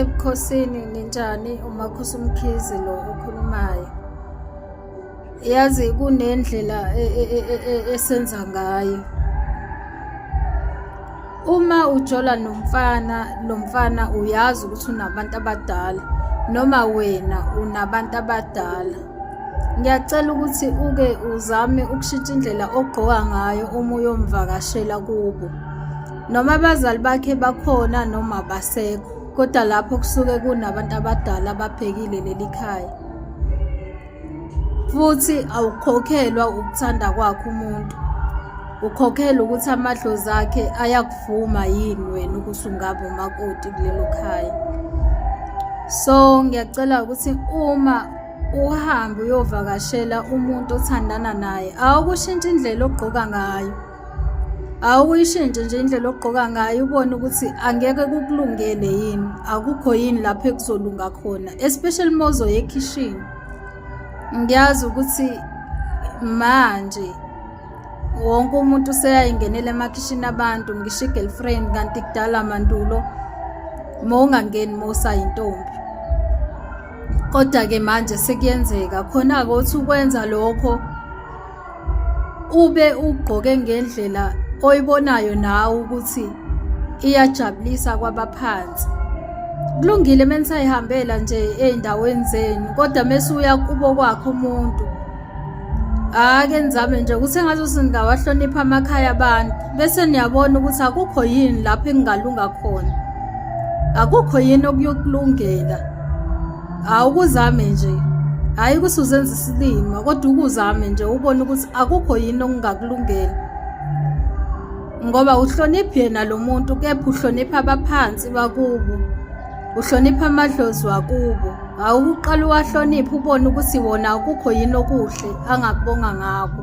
ebukhosini ninjani umakhosi umkhizi lo okhulumayo yazi kunendlela e, e, e, esenza ngayo uma ujola nomfana lo mfana uyazi ukuthi unabantu abadala noma wena unabantu abadala ngiyacela ukuthi uke uzame ukushintsha indlela ogqoka ngayo uma uyomvakashela kubo noma abazali bakhe bakhona noma abasekho kodwa lapho kusuke kunabantu abadala ababhekile leli khaya futhi awukhokhelwa ukuthanda kwakhe umuntu ukhokhela ukuthi amadlozi akhe ayakuvuma yini wena ukuthi ungabe umakoti kulelo khaya so ngiyacela ukuthi uma uhambe uyovakashela umuntu othandana naye awukushintsha indlela ogqoka ngayo awuyishintshe nje indlela ogqoka ngayo ubone ukuthi angeke kukulungele yini akukho yini lapho ekuzolunga khona especially uma uzoya ekhishini ngiyazi ukuthi manje wonke umuntu useyayingenela emakhishini abantu ngisho i-girlfriend kanti kudala mandulo uma ungangeni uma usayintombi kodwa-ke manje sekuyenzeka khona-ke uthi ukwenza lokho ube ugqoke ngendlela oyibonayo nawe ukuthi iyajabulisa kwabaphansi kulungile menisayihambela nje ezindaweni zenu kodwa mese uya kubo kwakhe umuntu ake nizame nje ukuthi engathi singawahlonipha amakhaya abantu bese niyabona ukuthi akukho yini lapho engingalunga khona akukho yini okuyokulungela awukuzame nje hhayi ukuthi uzenza isilima kodwa ukuzame nje ubone ukuthi akukho yini okungakulungela ngoba uhloniphi yena lo muntu kepha uhlonipha abaphansi bakubo uhlonipha amadlozi wakubo awukuqala uwahloniphe ubone ukuthi wona akukho yini okuhle angakubonga ngakho